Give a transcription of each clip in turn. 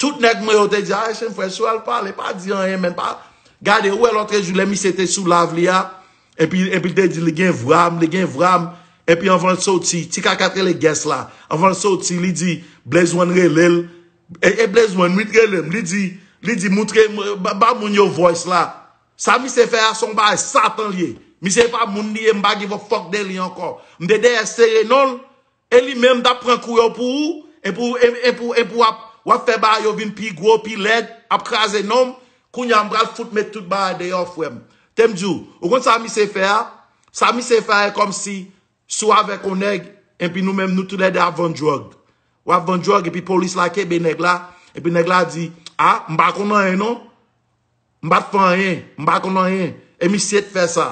Tout nèg mwen yo te di Haïtien frè si w al pale pa di anyen menm pa gade ou wè lòtre jou lè misye te sou live li a epi epi l te di li gen vwa m li gen vwa m epi anvan l soti ti kaka k rele Guess la anvan l soti li di Blaze one rele l e Blaze one wi t rele m li di li di moutre ba moun yo voice la sa misye fè a son bagay satan l ye misye e pa moun li ye m pa give a fuck de li ankò m te dèyè sere non l E li menm tap pran kou yo pou ou epi wap fè bagay yo vin pi gwo pi lèd ap kraze nonm kounya mpral fout met tout bagay deyò frèm tem diw ou konn sa misye fè a sa misye fè a e kòmsi si w avèk on nèg epi nou menm nou tou lède ap vann drug wap vann drug epi polis la kenbe nèg la epi nèg la di a mpa konn anyen non. M pat fè anyen, m pa konn anyen, e misye t fè sa.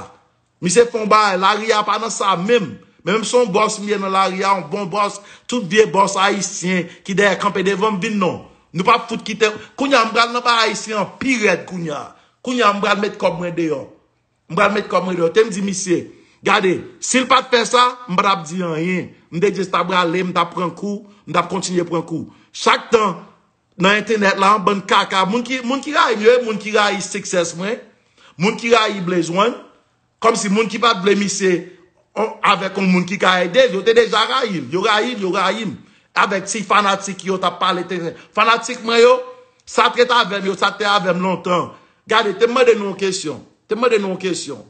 Misye fè yon bagay, lari a pa nan sa menm. Men menm son bòs m ye nan lari a, yon bon bòs, tout vye bòs ayisyen ki dèyè kanpe devan m vin non. Nou pap fout kite, kounya m pral nan bay ayisyen an pi rèd kounya. Kounya m pral met kòb mwen deyò. M pral met kòb mwen deyò. Te m di misye, gade, si l pat fè sa, m pa tap di anyen. M te jis tap rale, m tap pran kou, m tap kontinye pran kou. Chak tan. Nan entenet la an bann kaka. Moun ki moun ki rayi m yo e moun ki rayi success mwen. Moun ki rayi Blaze one. Kom si moun ki pat vle misye avek yon moun ki ka ede l. Yo te deja rayi l. Yo rayi l, yo rayi m. Avek ti fanatik yo tap pale te zen. Fanatik mwen yo, sa te ret avem yo, sa te avem lontan. Gade, te mande nou yon kesyon. Te mande nou yon kesyon.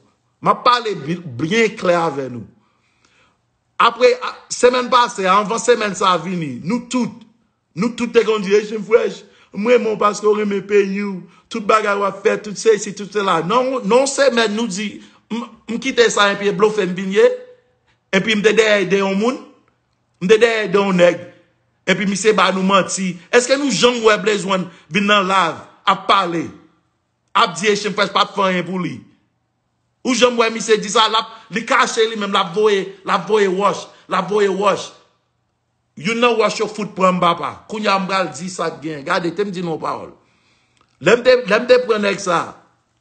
Map pale byen kle ave nou. Apre, semen pase, anvan semen sa vini, nou tout, Nou tout te gen yon direction fresh. M renmen w paske w renmen peyi w. Tout bagay w ap fè, tout sesi, tout sela. Nan yon semèn nou di m kite sa enpi e blofe m vin ye. Enpi m te dèyè ide yon moun. M te dèyè ide yon nèg. Enpi misye ba nou manti. Eske nou janm wè Blaze One vin nan live ap pale. Ap di Haitian fresh pa t fè anyen pou li. Ou janm wè misye di sa. Li kache li menm l ap voye l ap voye wòch. L ap voye wòch. Youn nan wòch yo fout pran m papa. Kounye a m pral di sa k gen. Gade, te m di nou yon pawòl. Lè m te, lè m te pran nèg sa a,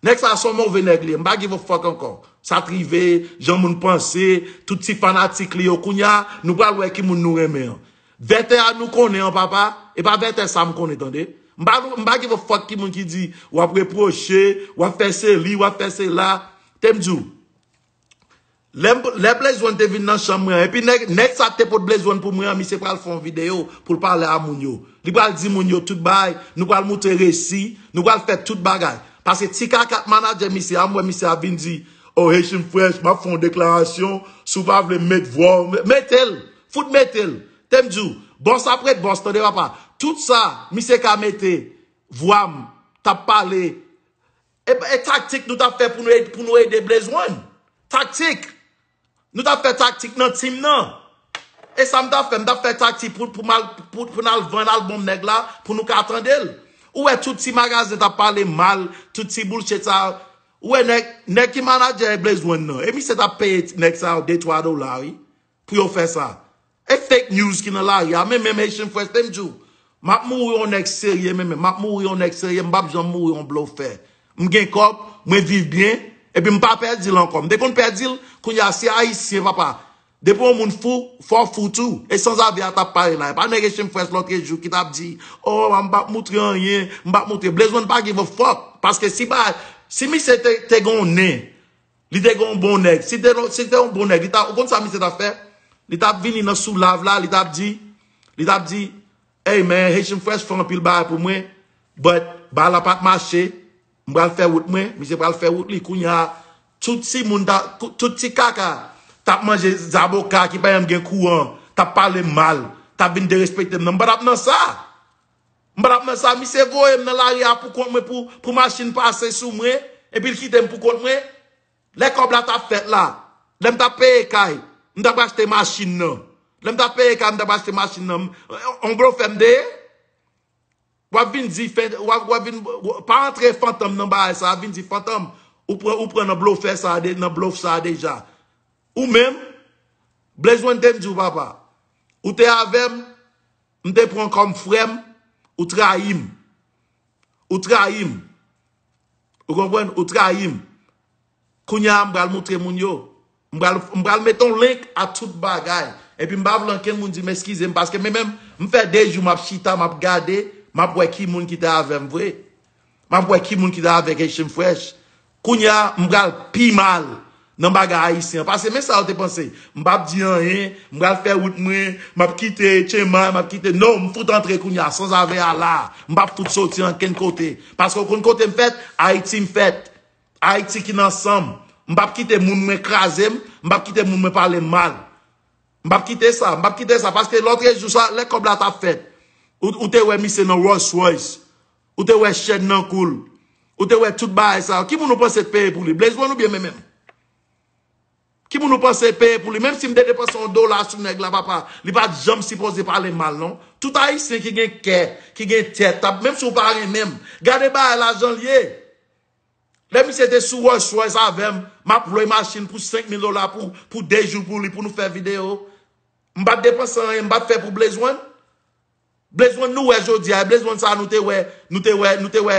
nèg sa a se yon move nèg li ye, m pa give a fuck ankò. Sa t rive, jan moun panse, tout ti fanatik li yo, kounye a, nou pral wè ki moun nou renmen an. Vètè a nou konnen an papa, e pa Vètè sa a m konnen tande. M pa, m pa give a fuck ki moun ki di, w ap repwoche, w ap fè se li, w ap fè se la. Te m di w. Lè Blaze one te vin nan chanm mwen epi nèg sa te pot Blaze one pou mwen an misye pral fè yon video poul pale a moun yo li pral di moun yo tout bagay nou pral moutre resi nou pral fè tout bagay pase ti kaka t manadjè misye a m wè misye ap vin di oh Haitian fresh map fè yon deklarasyon si w pa vle m met vwa w mete l fout mete l tem di w boss ap ret boss tande papa tout sa misye ka mete vwa m tap pale E taktik nou tap fè pou nou ede Blaze one? Taktik? Nou tap fè taktik nan team nan? E sa m tap fè? M tap fè taktik pou n al vann album nèg la pou nou ka tande l. Ou wè tout ti magazen tap pale mal, tout ti bullshit sa yo. Ou wè nèg ki manager Blaze one nan. E misye tap peye nèg sa yo 2, 3 dola wi. pou yo fè sa. E fake news ki nan lari a men menm Haitian Fresh tem di w map mouri yon nèg serye men menm map mouri yon nèg serye m pap janm mouri yon blofè m gen kòb mwen viv byen epi m pa pèdi l ankò m te konn pèdi l kounye a se ayisyen papa depi yon moun fou fò w fou tou e sanzave a tap pale la e pa nèg Haitian Fresh lòtrejou ki tap di oh m pap moutre anyen m pap moutre Blaze One pa give a fuck paske si misye te gen yon nen Li te gen yon bon nèg. Si te yon bon nèg, ou konn sa misye tap fè? Li tap vini nan sou lav la, li tap di, li tap di, Hey man, Haitian Fresh fè anpil bagay pou mwen, but bagay la pat mache, m pral fè wout mwen, misye pral fè wout li. Kounya, tout ti moun ta, tout ti kaka tap manje zaboka ki pa janm gen kouran, tap pale m mal, tap vin derespekte m nan. M pa tap nan sa! M pa tap nan sa misye voye m nan lari a poukont mwen pou machin pase sou mwen epi l kite m poukont mwen lè kòb la tap fèt la lè m tap peye kay m tap achte machin nan lè m tap peye kay m tap achte machin nan on blofè m te ye wap vin di pa antre fantom nan bagay sa vin di fantom ou pran nan blofè sa nan blof sa deja ou menm Blaze one te m di w papa ou te avè m M te pran kòm frè m, ou trayi m. Ou trayi m. Ou konprann? Ou trayi m. Kounya a m pral montre moun yo. M pral mete yon link a tout bagay. Epi m pa vle ankenn moun di m eskize m paske menm m fè 2 jou m ap chita m ap gade m ap wè ki moun ki te avè m vre. Map wè ki moun ki ta avèk Haitian fresh. Kounya m pral pi mal nan bagay Haitian an. Pase men sa yo te panse. M pap di anyen, m pral fè wout mwen, map kite Chema, map kite no, m fout antre kounya sans avè a la a. M pap fout soti ankenn kote. Paske ou konn kote m fèt? Haiti m fèt. Haiti ki nan san m. M pap kite moun mwen kraze m, m pap kite moun mwen pale m mal. M pap kite sa, m pap kite sa. Paske lotrejou sa, lè kòb la tap fèt, ou te wè misye nan Rolls Royce. Ou te wè chèn nan kou l. Ou te wè tout bagay sa yo. Ki moun ou panse te peye pou li? Blaze one oubyen men men m? Ki moun ou panse te peye pou li? Menm si m te depanse yon dola sou nèg la papa, li pa t janm sipoze pale mal non. Tout Ayisyen ki gen kè, ki gen tèt, t ap, menm si w pa renmen m, gade bagay la jan l ye. Lè misye te sou Rolls Royce avè m, m ap lwe machin pou 5 mil dola pou 2 jou pou li pou nou fè videyo. M pa t depanse anyen, m pa t fè pou Blaze one. Blazeone nou wè jodia e blazeone sa nou te wè nou te wè nou te wè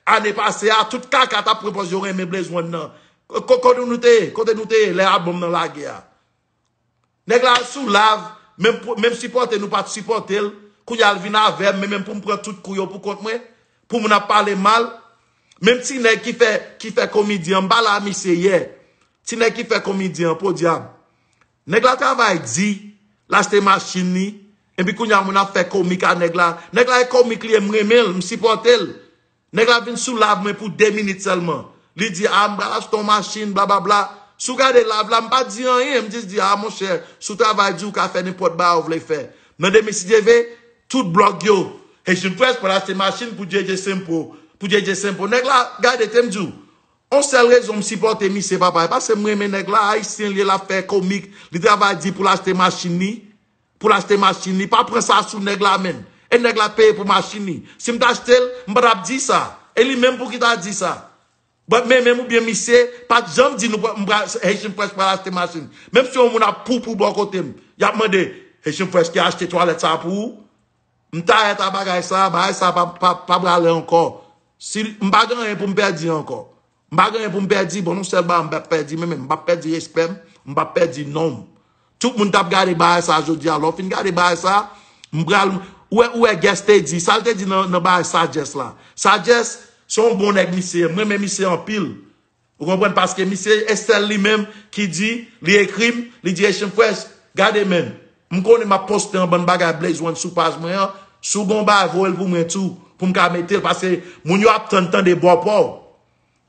ane pase a tout kaka tap pran pòz yo renmen blazeone nan kote nou te ye kote nou te ye lè album nan lage a nèg la al sou lav menm menm sipòte nou pat sipòtel kounya al vin avèm menm poum pran tout kou yo pou kont mwen pou moun ap pale mal menm ti nèg ki fè ki fè komidyen m pale a misye yè ti nèg ki fè komidyen podyab Nèg la travay di, l achte machin li, epi kounya moun ap fè komik a nèg la. Nèg la e komik li ye, m renmen l, m sipòte l. Nèg la vin sou live mwen pou 2 minit sèlman. Li di a m pral achte yon machin, blababla. Si w gade live la, m pa di anyen, m jis di a monchè, si w travay di w ka fè nenpòt bagay ou vle fè. Nan demen si Dye ve, tout blòg yo, Haitian Press pral achte machin pou JJ Simple, pou JJ Simple. Nèg la, gade, te m di w, On sèl rezon m sipòte misye papa e pase m renmen nèg la ayisyen l ye lap fè komik li travay di pou l achte machin li pou l achte machin li pa pran sa sou nèg la menm e nèg la peye pou machin li si m t achte l m pa tap di sa e li menm pouki ta di sa but men menm ou byen misye pat janm di nou m pral Haitian Fresh pral achte machin menm si yon moun ap poupou bò kote m yap mande Haitian Fresh ki achte twalèt sa pou ou M tired a bagay sa, bagay sa pa prale ankò. M pa gen anyen pou m pèdi ankò. M pa gen anyen pou m pèdi, bon nou sèl bagay m pap pèdi menm, m pap pèdi respè m, m pap pèdi non m. Tout moun tap gade bagay sa jodi a, lè w fin gade bagay sa, m pral, ou wè, ou wè Guest te di, sa l te di nan bagay Sagesse la. Sagesse, se yon bon nèg misye ye, m renmen misye anpil. Ou konprann paske misye esel li menm ki di li ekrim li di Haitian Press gade menm m konnen map poste yon bann bagay Blaze one sou paj mwen an si w gen yon bagay voye l pou mwen tou pou m ka mete l paske moun yo ap tann tande bò pa w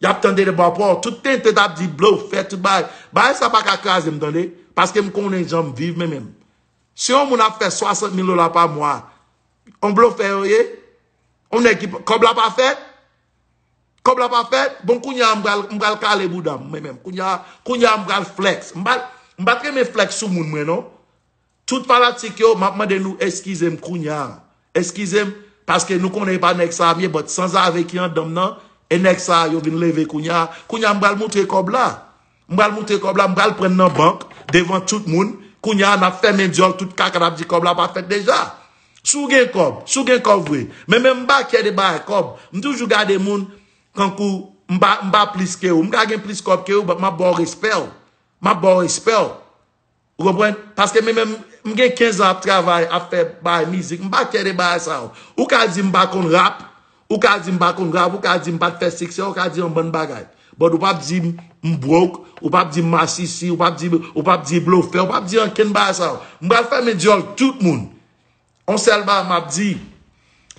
yap tande de bò pa w tout tenten tap di Blaze fè tout bagay bagay sa pa ka kraze m tande paske m konnen jan m viv men menm si yon moun ap fè 60 mil dola pa mwa yon blofè yo ye yon nèg ki kob la pa fèt Kob la pa fèt, bon kounya m pral kale bouda m mwen menm. Kounya m pral flex. M pat renmen flex sou moun mwen non. Tout fanatik yo, m ap mande nou eskize m kounya. Eskize m, paske nou konnen e pa nèg sa a m ye, but sanzave ki andan m nan, e nèg sa a yo vin leve kounya. Kounya m pral moutre kob la. M pral moutre kòb la, m pral prann nan bank devan tout moun. Kounya a n ap fèmen dyòl tout kaka n ap di kòb la pa fèt deja. Si w gen kòb, si w gen kòb vre. Men men m pa kyè de bagay kòb. M toujou gade moun tankou m pa plis ke ou. M ka gen plis kòb ke ou bat m ap ba w respè w. M ap ba w respè w. Ou konprann? Paske men menm, m gen 15 an ap travay, ap fè bay mizik, m pa kè de bagay sa yo. Ou ka di m pa konn rap, ou ka di m pa konn rap, ou ka di m pa t fè siksè, ou ka di yon bann bagay. But ou pa p di m m broke, ou pa p di m masisi, ou pa p di, ou pa p di blofè, ou pa p di ankenn bagay sa yo. M pral fèmen dyòl tout moun. On sèl bagay m ap di,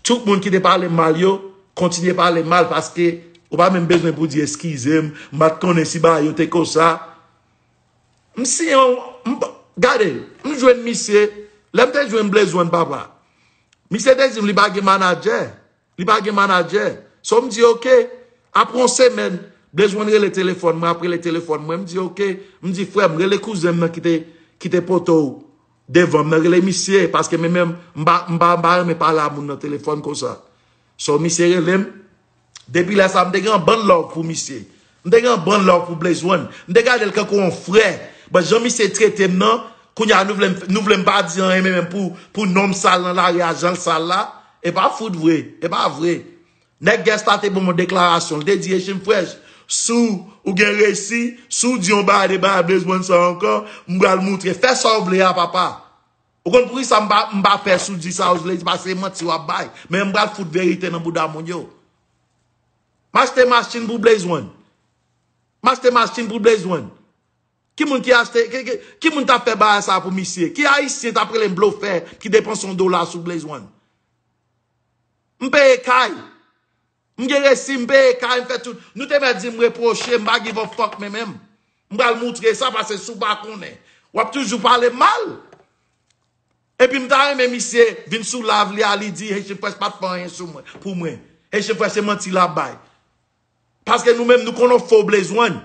tout moun ki te pale m mal yo, kontinye pale m mal paske ou pa menm bezwen pou di eskize m, m pa t konnen si bagay yo te konsa. M si yon m pa gade m jwenn misye lè m te jwenn Blaze One papa misye te di m li pa gen manadjè li pa gen manadjè so m di ok apre yon semèn Blaze One rele telefòn mwen ap rele telefòn mwen m di ok m di frè m rele kouzen m nan ki te ki te poto w devan m nan rele misye paske men menm m pa m pa renmen pale a moun nan telefòn konsa so misye rele m. Depi lè sa m te gen yon bann love pou misye. M te gen yon bann love pou Blaze One. M te gade l kankou yon frè. But jan misye trete m nan, kounye a nou vle m pa di anyen menm pou non m sal nan lari a jan l sal la. E pa fout vre. E pa vre. Nèg Guest la te ban m yon deklarasyon. L te di Haitian Fresh, si w gen resi, si w di yon bagay de bagay Blaze One sa ankò, m pral moutre. Fè sa w vle a papa. Ou konn poukisa m pa m pa pè si w di sa ou vle di pase e manti w ap bay. Men m pral fout verite nan bouda moun yo. M achte machin pou Blaze One. M achte machin pou Blaze One. Ki moun ki achte ki moun ta fè bagay sa pou misye? Ki ayisyen t ap rele m blofè ki depanse yon dola sou Blaze One? M peye kay. M gen resi m peye kay m fè tout nou te mèt di m repwoche m pa give a fuck men menm m pral moutre sa pase si w pa konnen wap toujou pale m mal epi m ta renmen misye vin sou live li a li di Haitian Fresh pat fè anyen sou mwen pou mwen Haitian Fresh se manti lap bay paske nou menm nou konn on fo blezwen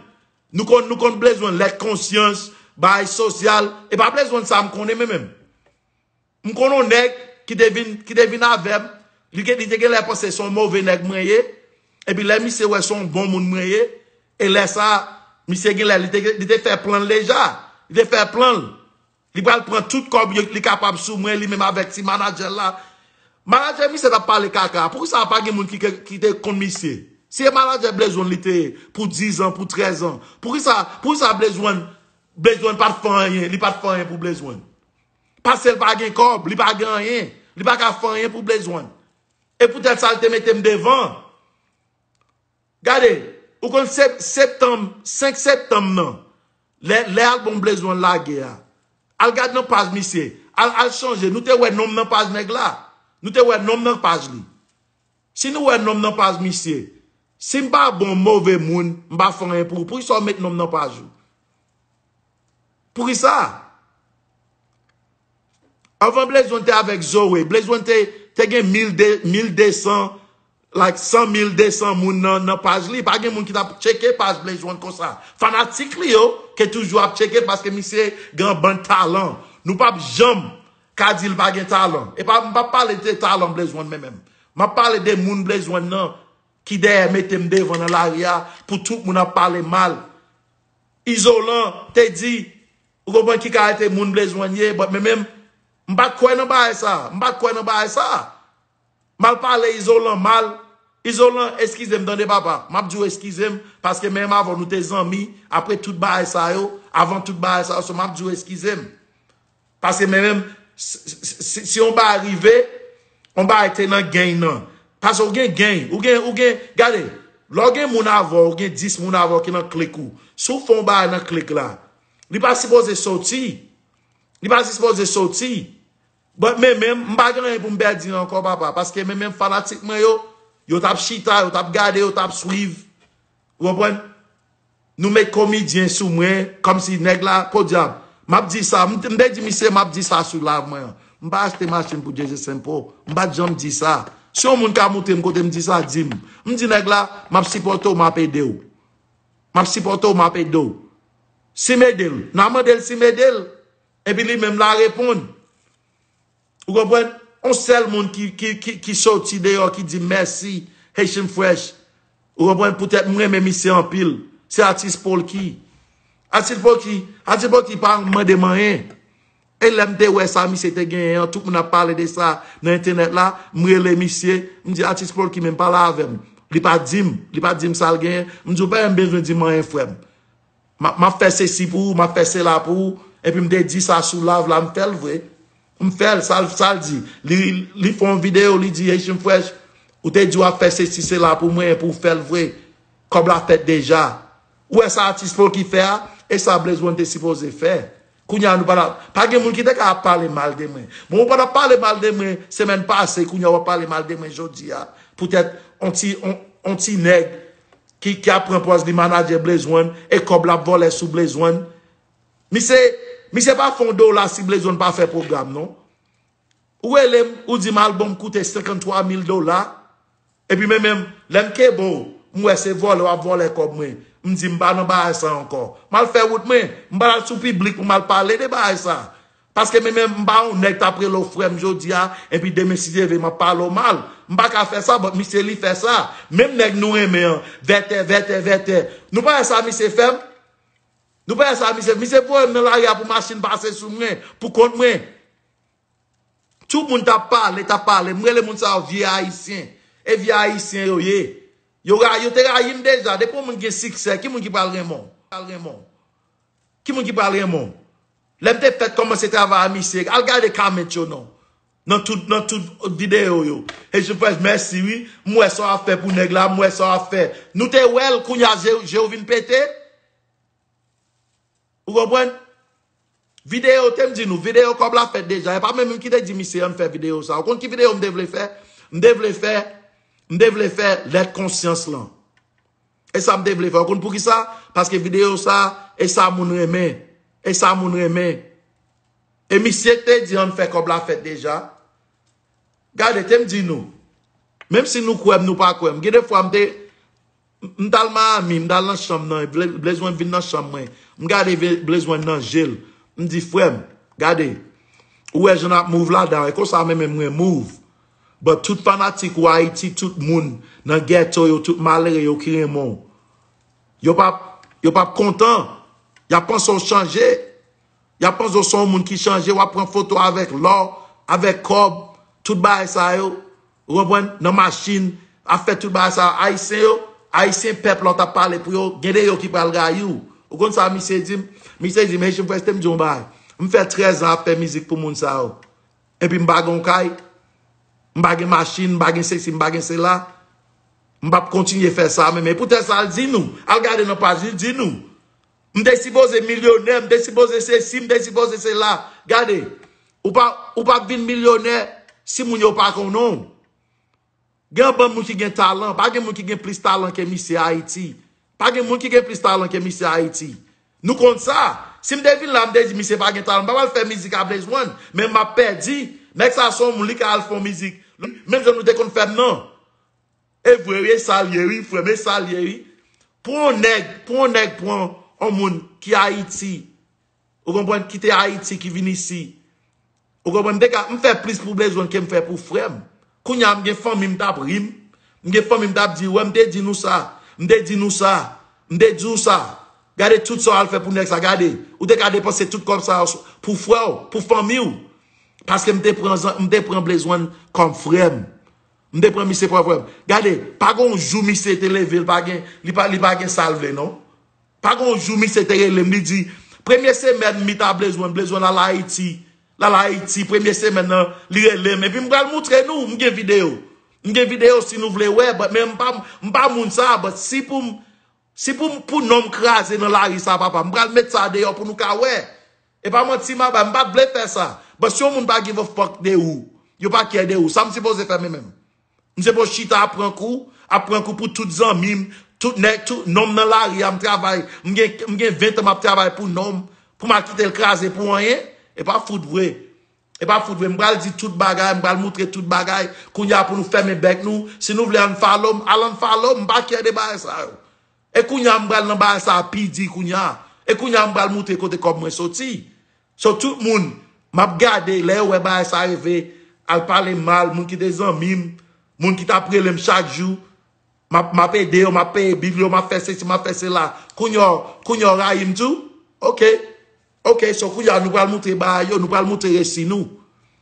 nou konn nou konn blezwen lèt konsyans bay sosyal e pa blezwen sa m konnen men menm. M konn on nèg ki te vin ki te vin avè m, li gen li te genlè panse se on move nèg mwen ye, epi lè misye wè se on bon moun mwen ye, e lè sa a, misye genlè li te li te fè plan l deja, li te fè plan l, li pral pran tout kòb yo li kapab sou mwen li menm avèk ti manadjè l la. Manadjè misye t ap pale kaka, poukisa pa gen moun ki ke ki te konn misye? Si e manadjè Blezwen li te ye pou dizan, pou trèzan, poukisa poukisa Blezwen Blezwen pa t fè anyen, li pa t fè anyen pou Blezwen? Pase l pa gen kòb, li pa gen anyen, li pa ka fè anyen pou Blaze One. E poutèt sa l te mete m devan. Gade, ou konn septanm, 5 septanm nan, lè albòm Blaze One lage a, al gade nan paj misye, al chanje, nou te wè non m nan paj nèg la, nou te wè non m nan paj li. Si nou wè nom nan paj misye. Sim pa bon move moun m pa fè anyen pou ou poukisa ou met nom nan paj ou? Poukisa? Anvan Blaze one te avèk Zoe, Blaze one te gen 1200 like 100200 moun nan paj li, pa gen moun ki tap tcheke paj Blaze one konsa. Fanatik li yo ke toujou ap tcheke paske misye gen yon bann talan. Nou pap janm Ka di l pa gen talan. E pa m pa pale de talan Blaze One men menm. M ap pale de moun Blaze One nan ki dèyè mete m devan nan lari a pou tout moun ap pale mal. Izolan te di, ou konprann ki kalite moun Blaze One ye, but men menm, m pa t kwè nan bagay sa a. M pa t kwè nan bagay sa a. Mal pale izolan mal izolan eskizem tande papa map diw eskizem paske menm avèw nou te zanmi apre tout bagay sa yo avan tout bagay sa yo so map diw eskizem paske men menm si yon bagay rive yon bagay te nan geny nan paske ou gen geny ou gen ou gen gade lèw gen moun avèw ou gen 10 moun avèw ki nan klik ou si w fè yon bagay nan klik la li pa sipoze soti li pa sipoze soti But meme m pa gen anyen pou m pèdi ankò papa paske meme fanatik mwen yo yo t ap chita yo t ap gade yo t ap swiv ou konprann nou met komidyen sou mwen kòmsi nèg la podyab m ap di sa m te di misye m ap di sa sou live mwen an m pa achte machin pou Jay-Z Simple m pa t janm di sa si yon moun ka moute m kote m di sa di m m di nèg la m ap sipòte w m ap ede w m ap sipòte w m ap ede w si m ede l nan mande l si m ede l Epi li menm la reponn. Ou konprann? On sèl moun ki soti deyò ki di mèsi Haitian Fresh. Ou konprann? Poutèt m renmen misye anpil. Se atis Polky. Atis Polky, atis Polky pa mande m anyen. E lè m te wè sa misye te genyen an, tout moun ap pale de sa nan entènèt la, m rele misye, m di atis Polky menm pale avè m. Li pa di m, li pa di m sa l genyen. M di w pa menm bezwen di m anyen frè m. M ap fè sesi pou ou, m ap fè sela pou ou, epi m te di sa sou live la, m fè l vre. M fè l, sa l di. Li fè yon videyo, li di Haitian Fresh, ou te di w ap fè sesi sela pou mwen epi w fè l vre. Kòb la fèt deja. Ou wè sa atis Pookie fè a? E sa Blaze One te sipoze fè. Kounye a nou pa la. Pa gen moun ki te ka ap pale mal de mwen. Bon ou pa tap pale mal de mwen semèn pase kounye a wap pale mal de mwen jodi a poutèt on ti on ti nèg ki ap pran pòz li manadjè Blaze One e kòb lap vòlè sou Blaze One. Misye misye pa fè on dola si Blaze One pa fè pwogram non. Ou relem ou dim album koute 53 mil dola epi men menm lem kebe w m we se vole wap vole kob mwen m di m pa nan bagay sa anko mal fe wout mwen m pa al sou piblik pou mal pale de bagay sa paske men menm m pa yon neg tap rele w frem jodia epi demen si Dye ve map pale w mal m pa ka fe sa but misye li fe sa menm neg nou renmen an vètè vètè vètè nou pa we sa misye fem nou pa we sa misye misye voyem nan lari a pou machine pase sou mwen pou kont mwen. Tout moun tap pale, tap pale. M rele moun sa yo vye ayisyen. E vye ayisyen yo ye. Yo te rayi m deja. Depi yon moun gen siksè, ki moun ki pral renmen w? Ki moun ki pral renmen w? Lè m te fèt kòmanse travay a misye, al gade comment yo non. Nan tout videyo yo. Hechypres mèsi wi. M wè sa w ap fè pou nèg la, m wè sa w ap fè. Nou te wè l, kounya je w vin pete? Ou konprann? Video tem di nou, video kob la fet deja, e pa mwen menm ki te di misye ann fè video sa. Ou konn ki video m te vle fè? M te vle fè m te vle fè lèt konsyans lan. E sa m te vle fè. Ou konn pou ki sa? Paske video sa e sa moun renmen. E sa moun renmen. E misye te di ann fè kob la fet deja. Gade tem di nou. Menm si nou kwem nou pa kwem. Gen de fwa m te M tal Miami, m tal nan chanm nan, Blaze-one vin nan chanm mwen, m gade Blaze-one nan je l, m di frè m, gade, ou wè jan n ap move ladan an, e konsa mwen menm mwen move, but tout fanatik ou Ayiti, tout moun nan ghetto yo, tout malere yo ki renmen w, yo pa p, yo pa p kontan, y ap panse w chanje, y ap panse w se yon moun ki chanje, w ap pran foto avèk lò, avèk kòb, tout bagay sa yo. Ou konprann? Nan machin, ap fè tout bagay sa a. Ayisyen yo, Ayisyen pèp la ou t ap pale pou yo, gen de yo ki pral rayi ou. Ou konn sa misye di m? Misye di m, Hechy m kite m di w yon bagay. M fè trèzan ap fè mizik pou moun sa yo. Epi m pa gen yon kay, m pa gen machin, m pa gen sesi, m pa gen sela. M p ap kontinye fè sa menm. Epoutèt sa, al di nou, al gade nan paj li, li di nou. M te sipoze milyonè, m te sipoze sesi, m te sipoze sela. Gade, ou pa ou pa vin milyonè si moun yo pa konnen w. Gen anpil moun ki gen talan. Pa gen moun ki gen plis talan ke misye Ayiti. Pa gen moun ki gen plis talan ke misye Ayiti. Nou konn sa. Si m te vin la, m te di misye pa gen talan. M pa pral fè mizik a Blaze One, men m ap pèdi. Nèg sa a se yon moun, li ka al fè yon mizik. Menm jan nou te konn fè m nan. Evre wi esal ye wi frem esal ye wi pou yon neg pou yon neg pran yon moun ki ayiti ou konprann kite ayiti ki vin isi ou konprann m te ka m fè plis pou blezwen kem fè pou frem kounya m gen fanmi m tap rim m gen fanmi m tap di wè m te di nou sa m te di nou sa m te diw sa gade tout sa w al fè pou neg sa gade ou te ka depanse tout kob sa pou frè w pou fanmi w paske m te pran m te pran blezwen kom frem M te pran misye pou ap wèm. Gade, pa gon jou misye te leve li pa gen, li pa li pa gen sal vle non. Pa gon jou misye te relem li di, premye semèn mi ta blezwen, blezwen la la Ayiti, la la Ayiti premye semèn nan li relem epi m pral moutre nou, m gen video. M gen video si nou vle wè but men m pa m pa moun sa but si pou m si pou m pou non m kraze nan lari sa papa m pral met sa deyò pou nou ka wè. Epa manti ma bad mpat vle fè sa but si yon moun pa give a fuck de ou yo pa care de ou sam sipoze fè me menm m sipoze chita ap pran kou ap pran kou pou tout zanmim tout nèg tout nonm nan lari a m travay m gen m gen 20 tan map travay pou nonm pou mal kitel kraze pou anyen epa fout vre epa fout vre m pral di tout bagay m pral moutre tout bagay kounya pou nou fèmen bèk nou si nou vle unfollow m al unfollow m m pa care de bagay sa yo E kounya m pral nan bagay sa pi di kounya. E kounya m pral moutre kote kòb mwen soti. So tout moun map gade lè yo wè bagay sa rive al pale mal moun ki te zanmi m, moun ki tap rele m chak jou map ede yo map peye bil yo map fè sesi map fè sela kounya yo rayi m tou ok. Ok so kounya nou pral moutre baay yo nou pral moutre resi nou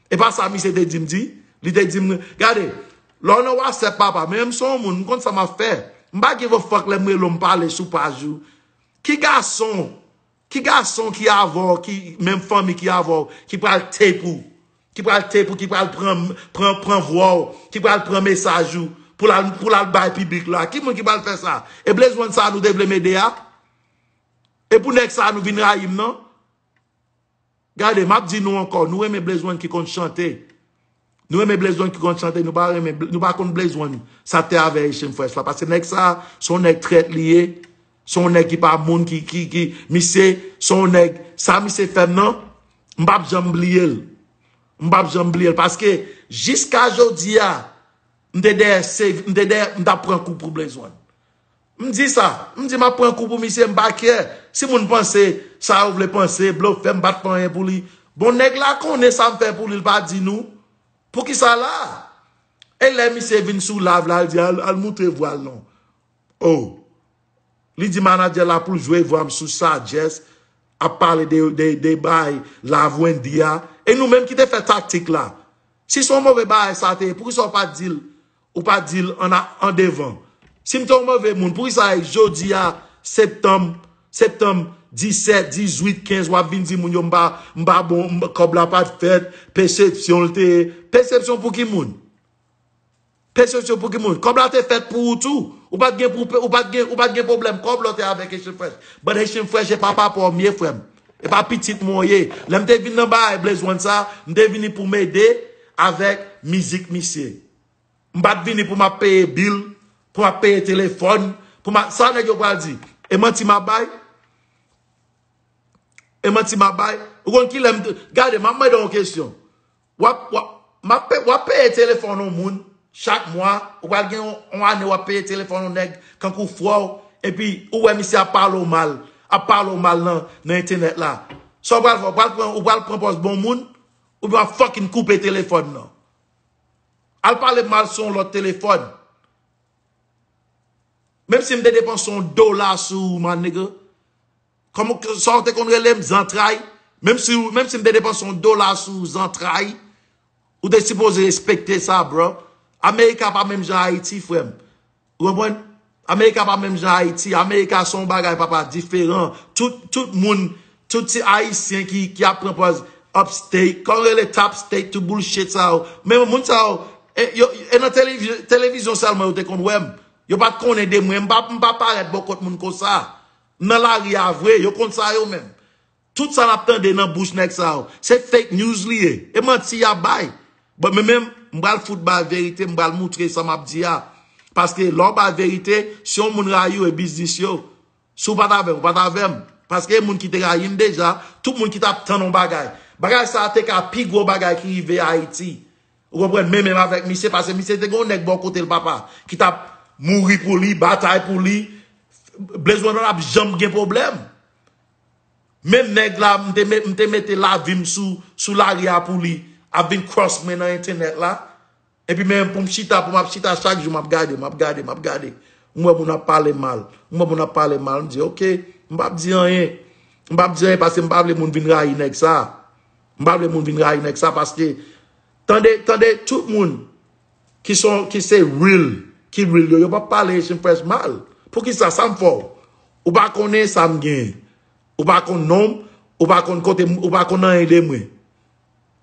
epa sa misye te dim di li te dim gade lè w nan whatsapp papa men m son w moun m konn sa map fè m pa give a fuck lè m rele w m pale sou paj ou ki gason ki gason ki avè w ki menm fanmi ki avè w ki pral tape ou ki pral tape ou ki pral pran pran pran vwa w ki pral pran mesaj ou pou l al pou l al bay piblik la ki moun ki pral fè sa e blaze one sa nou te vle m ede a. E pou nèg sa nou vin rayim nan. Gade map di nou ankò nou renmen Blaze one ki konn chante nou renmen Blaze one ki konn chante nou pa renmen nou pa konn Blaze one sa te avè Haitian fresh la paske nèg sa son nèg trèt li ye son nèg ki pa moun ki ki ki misye son nèg sa misye fèm nan m'pap janm bliyel m'pap janm bliyel paske jiska jodia m'te dèyè save m'te dèyè m'tap pran kou pou Blaze one M di sa, m di m ap pran kou pou misye, m pa kè si moun panse sa yo vle panse, blofè m pa t fè anyen pou li. Bon nèg la konnen sa m fè pou li, l pa di nou. Poukisa l la? E lè misye vin sou live la l di al moutre vwa l non. Oh! Li di manadjè la pou l jwe vwa m sou sajès ap pale de bay Live Wendyy a. E nou menm ki te fè taktik la. Si s on move bagay sa te ye, poukisa w pa t di l Ou pa di l an an devan. Si m te yon move moun, poukisa jodi a septanm, septanm 17, 18, 15 w ap vin di moun yo m pa m pa bon, kòb la pa t fèt, pesepsyon l te ye. Pesepsyon pou ki moun? Pesepsyon pou ki moun? Kòb la te fèt pou ou tou. Ou pa t gen pou ou pa t gen ou pa t gen pwoblèm kòb lè w te avèk Haitian Fresh. But Haitian Fresh e pa papa w m ye frè m. E pa pitit mwen w ye. Lè m te vin nan bagay Blaze One sa, m te vini pou m ede avèk mizik misye. M pa t vini pou m ap peye bil, pou m ap peye telefòn, pou m ap, sa nèg yo pral di? E manti m ap bay? E manti m ap bay? Ou konn kilè m te, gade m ap mande w yon kesyon, w ap, w ap, m ap peye, w ap peye telefòn yon moun chak mwa, ou pral gen yon ane w ap peye telefòn yon nèg kankou frè w, epi ou wè misye ap pale w mal, ap pale w mal nan, nan entènèt la. Sa w pral fè? Ou pral pran, ou pral pran pòz bon moun? Oubyen w ap fucking koupe telefòn nan? Al pale mal sou yon lòt telefòn. Menm si m te depanse yon dola sou ou my nigga. Kòman sa ou te konn rele m zantray. Menm si m te depanse yon dola sou ou zantray. Ou te sipoze respekte sa bro. America pa menm jan Ayiti frè m. Ou konprann? America pa menm jan Haiti. America son bagay papa diferan. Tout, tout moun, tout ti Haitien ki, ki ap pran pòz up state. Kòman yo rele top state tout bullshit sa yo. Men moun sa yo, e yo, e nan televi, television sèlman yo te konn wè m. Yo pa t konnen de mwen. M pa, m pa parèt bò kòt moun konsa. M nan lari a vre. Yo konn sa yo menm. Tout sa nap tande nan bouch nèg sa yo se fake news li ye. E manti yap bay. Bon men menm m pral fout bay verite m pral moutre sa map di a. Paske lè w bay verite si yon moun rayi w e biznis yo. Si w pat avè m ou pat avè m. Paske e moun ki te rayi m deja. Tout moun ki tap tann yon bagay. Bagay sa te ka pi gwo bagay ki rive Ayiti. Ou konprann men menm avèk misye pase misye te gen yon nèg bò kote l papa ki tap mouri pou li, batay pou li. Blaze Wanda pap janm gen pwoblèm. Menm nèg la m te mete lavi m sou lari a pou li ap vin cross mwen nan entenet la epi men pou m chita pou m ap chita chak jou m ap gade m ap gade m ap gade m wè moun ap pale mal m wè moun ap pale mal m di ok m pap di anyen m pap di anyen paske m pa vle moun vin rayi nèg sa m pa vle moun vin rayi nèg sa paske tande tande tout moun ki son ki se real ki real yo yo pap pale Haitian press mal poukisa sam fè w ou pa konnen sam gen ou pa konn nom ou pa konn kote m ou pa konn anyen de mwen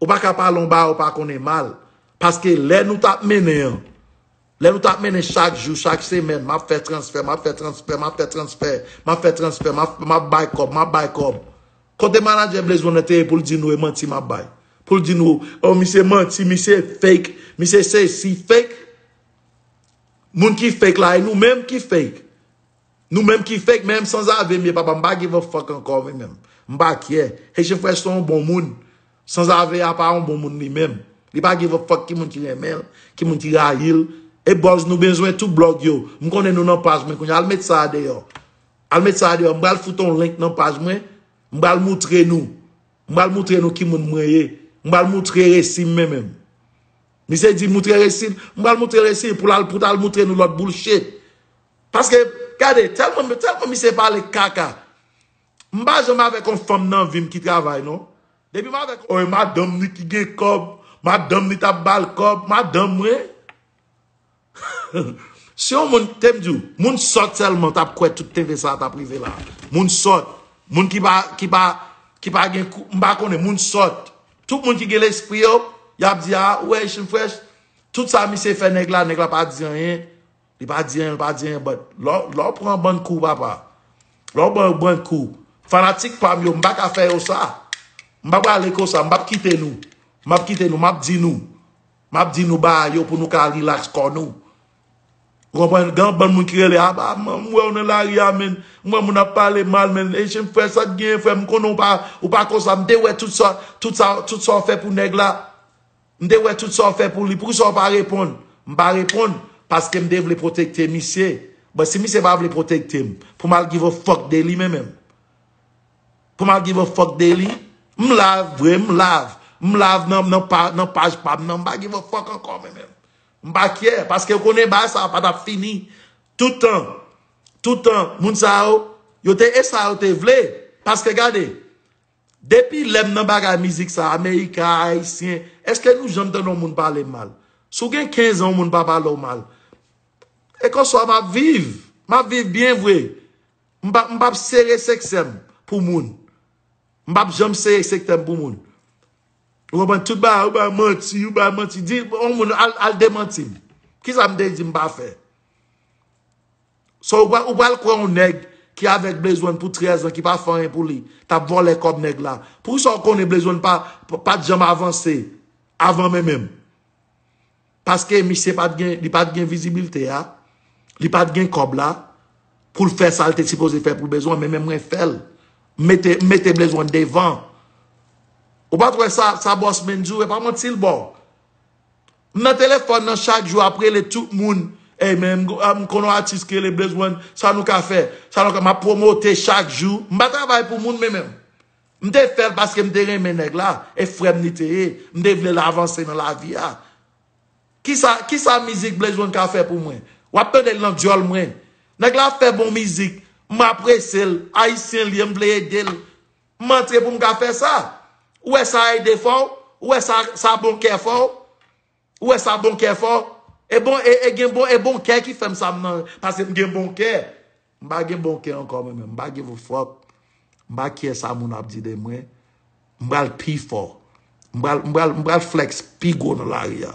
ou pa ka pale yon bagay ou pa konnen mal paske lè nou tap mennen an lè nou tap mennen chak jou chak semèn map fè transfè map fè transfè map fè transfè map fè transfè map bay kòb map bay kòb Kote manager Blaze Bonheur te ye poul di nou e manti map bay. Poul di nou oh misye manti, misye fake, misye sesi, fake. Moun ki fake la e nou menm ki fake. Nou menm ki fake menm sanzave m ye papa m pa give a fuck ankò mwen menm. M pa kyè. Haitian Fresh se yon bon moun. Sanzave a pa yon bon moun li menm. Li pa give a fuck ki moun ki renmen l, ki moun ki rayi l. E buzz nou bezwen tout blog yo. M konnen nou nan paj mwen kounye a. Al met sa a deyò. Al met sa deyò. M pral fout on link nan paj mwen. M pral moutre nou. M pral moutre nou ki moun mwen ye. M pral moutre resi m men menm. Misye di moutre resi l. M pral moutre resi l pou l al pou ta al moutre nou lòt boulshit. Paske gade tèlman tèlman misye pale kaka. M pa janm avèk on fanm nan vi m ki travay non. Depi m avèk on. Madanm li ki gen kòb. Madanm li t ap ba l kòb. Madanm mwen. Si yon moun tem di w, moun sòt sèlman tap kwè tout tenten sa tap rive la. Moun sòt, moun ki pa ki pa ki pa gen kou, m pa konnen, moun sòt. Tout moun ki gen lespri yo, yap di a, ou wè Echann Fresh, tout sa misye fè nèg la, nèg la pa di anyen, li pa di anyen, li pa di anyen but lè w lè w pran bann kou papa, lè w pran yon bann kou, fanatik pa m yo, m pa ka fè yo sa. M pa prale konsa, m pap kite nou, m pap kite nou, m ap di nou. Map di nou ba yo pou nou ka relax kò nou. Ou konprann? Gen yon bann moun ki rele a ba m wè w nan lari a men. M wè moun ap pale mal men. E chen frè sa k genyen frè m konnen ou pa konsa. M te wè tout sa tout sa tout sa w fè pou nèg la. M te wè tout sa w fè pou li. Poukisa w pa reponn? M pa reponn paske m te vle pwotekte misye. Bon si misye pa vle pwotekte m pou m al give a fuck de li menm menm. Come I give a fuck daily M live vre m live M live nan paj pam nan M pa give a fuck ankò mwen menm M pa kyè paske konnen bagay sa pa tap fini toutan toutan moun sa yo yo te e sa yo te vle paske gade depi lèm nan bagay mizik sa amerika ayisyen eske nou janm tande yon moun pale mal si w gen 15 an yon moun pa pale w mal e konswa map viv map viv byen vre M pa m pap sere seksè m pou moun. M pap janm sere sektè m pou moun. Ou konprann? Tout bagay ou bay manti, ou bay manti. Di yon moun al demanti m. Kisa m te di m pa fè? So ou pral kwè yon nèg ki avèk Blezwen pou 13 an ki pa fè anyen pou li, t ap vòlè kòb nèg la. Poukisa ou konnen Blezwen pa t janm avanse avan menmen m? Paske misye pat gen, li pat gen vizibilte a, li pat gen kòb la, poul fè sal te sipoze fè pou Blaze One, men men mwen fèl. M mete, m mete Blaze One devan. Ou pat wè sa, sa Boss Man di w, e pa manti l baw. M nan telefòn nan chak jou ap rele tout moun, ey men, m konn yon atis ki rele Blaze One, sa nou ka fè? Sa nou ka, map promote chak jou. M pa travay pou moun men menm. M te fè l paske m te renmen nèg la e frè m li te ye. M te vle l avanse nan lavi a. Kisa kisa mizik Blaze One ka fè pou mwen? W ap tande l nan dyòl mwen. Nèg la ap fè bon mizik. M apresye l. Ayisyen li ye. M vle ede l. M antre pou m ka fè sa. Ou wè sa ede fè w? Ou wè sa bon kè fè w? Ou wè sa bon kè fò? E bon e gen bon e bon kè ki fèm sa m nan pase m gen bon kè. M pa gen bon kè ankò mwen menm. M pa give a fuck. M pa care sa moun ap di de mwen. M pral pi fò. M pral m pral m pral flex pi gwo nan lari a.